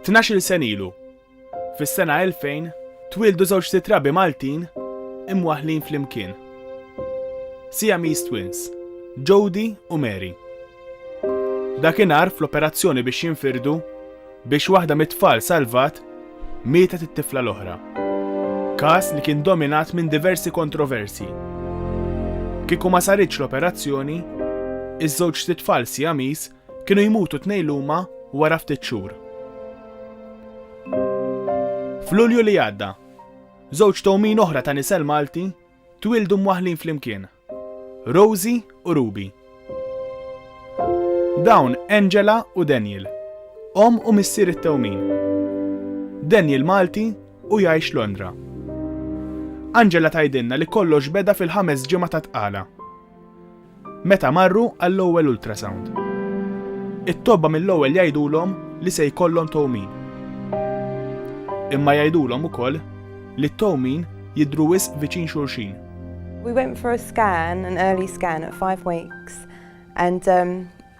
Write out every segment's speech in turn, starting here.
Tnax-il sen ilu, fis-sena 2000, twieldu żewġ sitrabi Maltin imwaħħlin flimkien. Siamese twins, Jody u Mary. Dakinhar fl-operazzjoni biex jinfirdu, biex waħda mit-tfal salvat, mietet it-tifla l-oħra. Każ li kien dominat minn diversi kontroversi. Kieku ma saritx l-operazzjoni, iż-żewġt tfal Siamese Kienu jmutu tnejn luma wara ftit xhur. F'Lulju li għadda, żewġ towmin oħra ta' nisel Malti twildu mwaħlin flimkien. Rosi u Ruby. Dawn Angela u Daniel, om u missier it-tewmin. Daniel Malti u jgħix Londra. Angela tajdinna li kollox beda fil-ħames ġimgħa ta' tqala. Meta marru għall-ewwel ultrasound. It-tobba mill-ewwel jgħidulhom li se jkollhom towmin. Imma jgħidulhom ukoll li t-towmin jidhru wisq viċin xulxin. We went for a scan, an early scan at five weeks and um,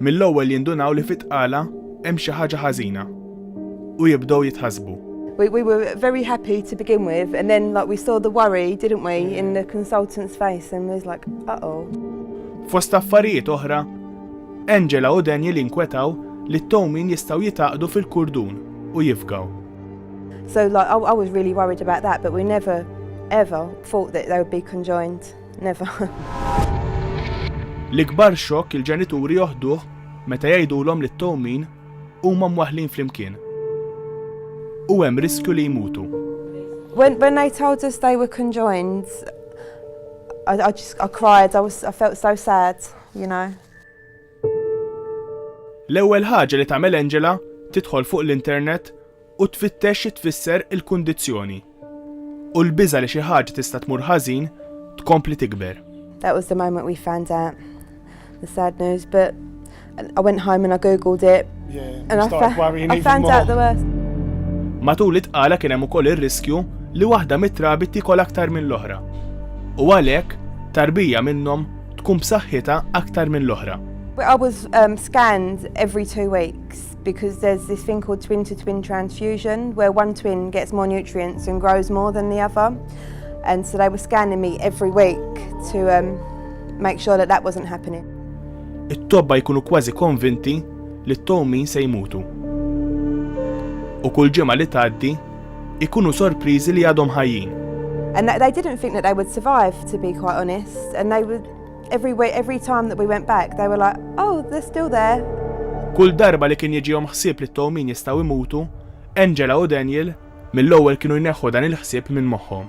Mill-ewwel jindunaw li fit-tqala hemm xi ħaġa ħażina u jibdew jitħassbu. We, we were very happy to begin with, and then like we saw the worry, didn't we, in the consultant's face, and was like, uh oh. Fost affarijiet oħra, Angela u Daniel inkwetaw li t-towmin jistaw jitaqdu fil-kurdun u jifgaw. So like, I, I was really worried about that, but we never ever thought that they would be conjoined. Neva. L-ikbar xokk il-ġenituri joħduh meta jgħidulhom li t-towmin huma mwaħlin flimkien. U hemm riskju li jmutu. When, when I told us they were conjoined, I, I just I cried, I was I felt so sad, you know. L-ewwel ħaġa li tagħmel Angela tidħol fuq l-internet u tfittex xi tfisser il-kundizzjoni. U l-biża' li xi ħaġa tista' tmur ħażin tkompli tikber. That was the moment we found out the sad news, but I went home and I googled it. Yeah, and I, fa I found out the worst. Matul it-tqala kien hemm ukoll ir-riskju li waħda mit-trabi tikol aktar mill-oħra. U għalhekk tarbija minnhom tkun b'saħħitha aktar mill-oħra. I was um, scanned every two weeks because there's this thing called twin to twin transfusion where one twin gets more nutrients and grows more than the other. And so they were scanning me every week to um, make sure that that wasn't happening. It-tobba jkunu kważi konvinti li t-towmin se jmutu. U kull ġimgħa li tgħaddi ikunu sorpriżi li għadhom ħajjin. And that they didn't think that they would survive, to be quite honest. And they would, every, way, every time that we went back, they were like, oh, they're still there. Kull darba li kien jiġihom ħsieb li t-tawmin jistgħu jmutu, Angela u Daniel mill-ewwel kienu jneħħu dan il-ħsieb minn moħħhom.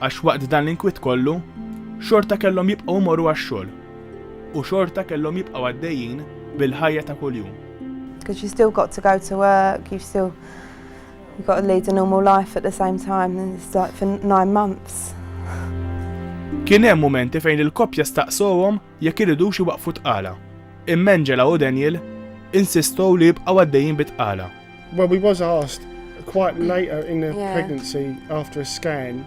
Għax waqt dan l-inkwiet kollu, xorta kellhom jibqgħu jmorru għax-xogħol u xorta kellhom jibqgħu għaddejjin bil-ħajja ta' kuljum. Because you still got to go to work, you still you got to lead a normal life at the same time and it's like for nine months. Kien hemm mumenti fejn il-koppja staqsowhom jekk iridux iwaqqfu t-tqala. Imma Angela u Daniel insistow li jibqgħu għaddejjin bit-tqala. Well, we was asked quite later in the pregnancy after a scan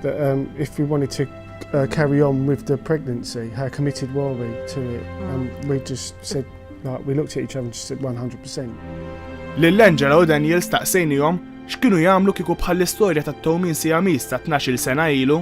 that um, if we wanted to uh, carry on with the pregnancy, how committed were we to it? And mm. we just said, like, we looked at each other and just said 100%. Lill-Angela u Daniel staqsejnijom x'kienu jagħmlu kieku bħall-istorja ta' Tomin Siamis ta' 12 sena ilu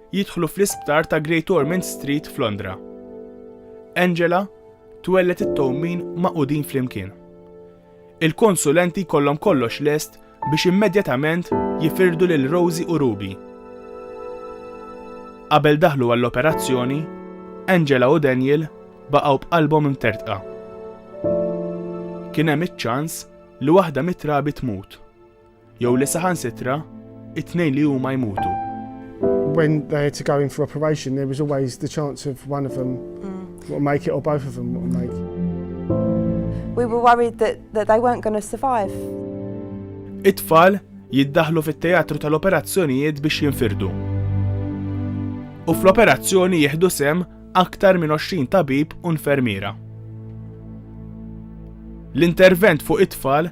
jidħlu fl-isptar ta' Great Ormond Street f'Londra. Angela twellet it-towmin maqudin flimkien. Il-konsulenti kollhom kollox lest biex immedjatament jifirdu lil Rosie u Ruby. Qabel daħlu għall-operazzjoni, Angela u Daniel baqgħu b'qalbhom imtertqa. Kien hemm iċ-ċans li waħda mit-trabi tmut, Jew li saħansitra it-tnejn li huma jmutu. When they had to go in for operation, there was always the chance of one of them mm. will make it or both of them will make it. We were worried that, that they weren't going to survive. It-tfal jiddaħlu fit-teatru tal-operazzjonijiet biex jinfirdu. U fl-operazzjoni jieħdu sem aktar minn 20 tabib u nfermiera. L-intervent fuq it-tfal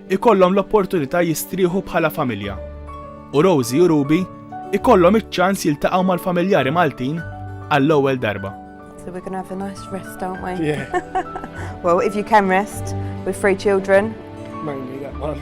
ikollhom l-opportunità jistrieħu bħala familja, u Rosie u Ruby ikollhom iċ-ċans jiltaqgħu mal-familjari Maltin għall-ewwel darba. So we're going to have a nice rest, aren't we? Yeah. well, if you can rest with three children. Mainly that one.